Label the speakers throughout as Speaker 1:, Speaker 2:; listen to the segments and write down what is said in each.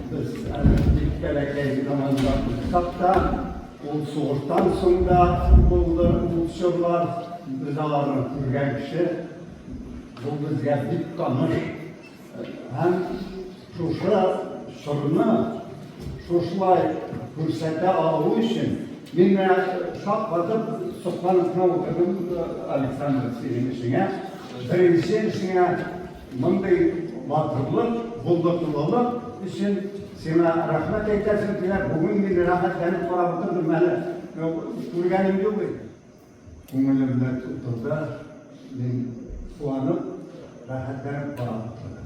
Speaker 1: Без бик бәләкәй заманда булсак та, ул сугыштан соң да булды ул чорлар. Без аларны күргән кеше, бу безгә бик таныш. Һәм шушы чорны шушылай күрсәтә алу өчен мин менә шаккатып сокланып кына утырдым, Александр, синең эшеңә. Беренче эшеңә Мондый батырлык булдырдылылык өчен сиңа рәхмәт әйтәсем килә. Бүген мин рәхәтләнеп карап утырдым әле. Күргәнем юк бит. Күңелемдә тотылды. Мин куанып, рәхәтләнеп карап утырдым.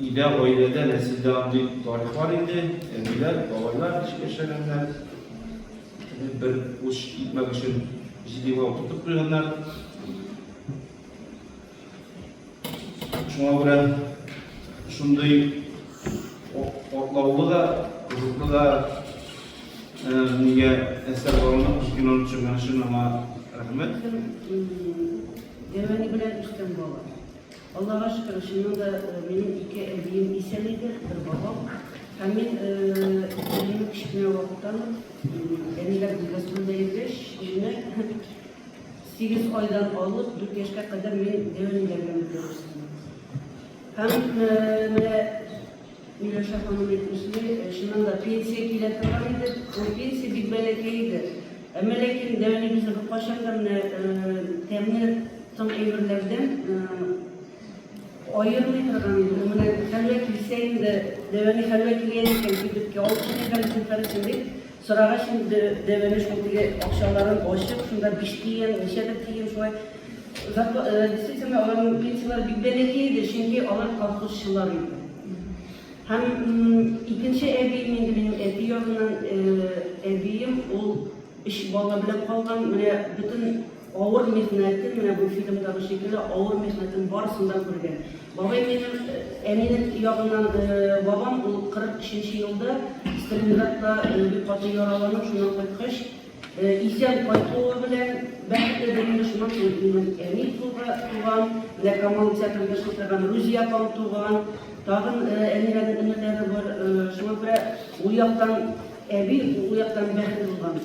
Speaker 2: Өйдә, гаиләдә, нәселдә андый тарих бар иде. Әбиләр, бабайлар ничек яшәгәннәр, бер уч икмәк өчен җидегә утыртып куйганнар. Шуңа күрә шундый атлаулы да, кызыклы да нигә әсәр баруына күз киноны төшергән өчен аңа рәхмәт.
Speaker 3: Дәвәни белән үскән бала. Аллага шөкер, чыннан да минем ике әбием исән иде, бер бабам. Һәм мин әбиемне кечкенә вакыттан ук әниләр бүлмәсендә йөргәч, үзенә 8 айдан алып 4 яшькә кадәр мин дәвам итәргә мөмкин. Һәм менә Миләүшә ханым әйтмешли, чыннан да, пенсия килә торган иде. Ул пенсия бик бәләкәй иде. Әмма ләкин Дәүлибезне беркайчан да менә тәмле тын әйберләрдән аермый торган иде. Ул менә хәлвә килсә инде, Дәвәни хәлвә килгән икән, кибеткә алып менә хәлвә килсен дип, Сорагач, мин дәвәләш ул теге акчаларын ачып, шунда биш тиен, ничәдер тиен шулай. Зарпла- э, Действительно, аларның пенсияләре бик бәләкәй иде, чөнки алар колхозчылар иде. Һәм м, икенче әбием инде минем әти ягыннан э, әбием, ул өч бала белән калган, менә бөтен Авыр михнәтен, менә бу фильмдагы шикелле, авыр михнәтен барысын да күргән. Бабай минем, әнинең ягыннан бабам, ул 43 нче елда Сталинградта бик каты яраланып, шуннан кайткач, исән кайтуы белән бәхетле дә инде, шуннан соң минем әни туган, менә Камал театрында эшли торган Рузия апам туган, тагын әниләрнең энеләре бар, шуңа күрә ул яктан әби, ул яктан бәхетле булган.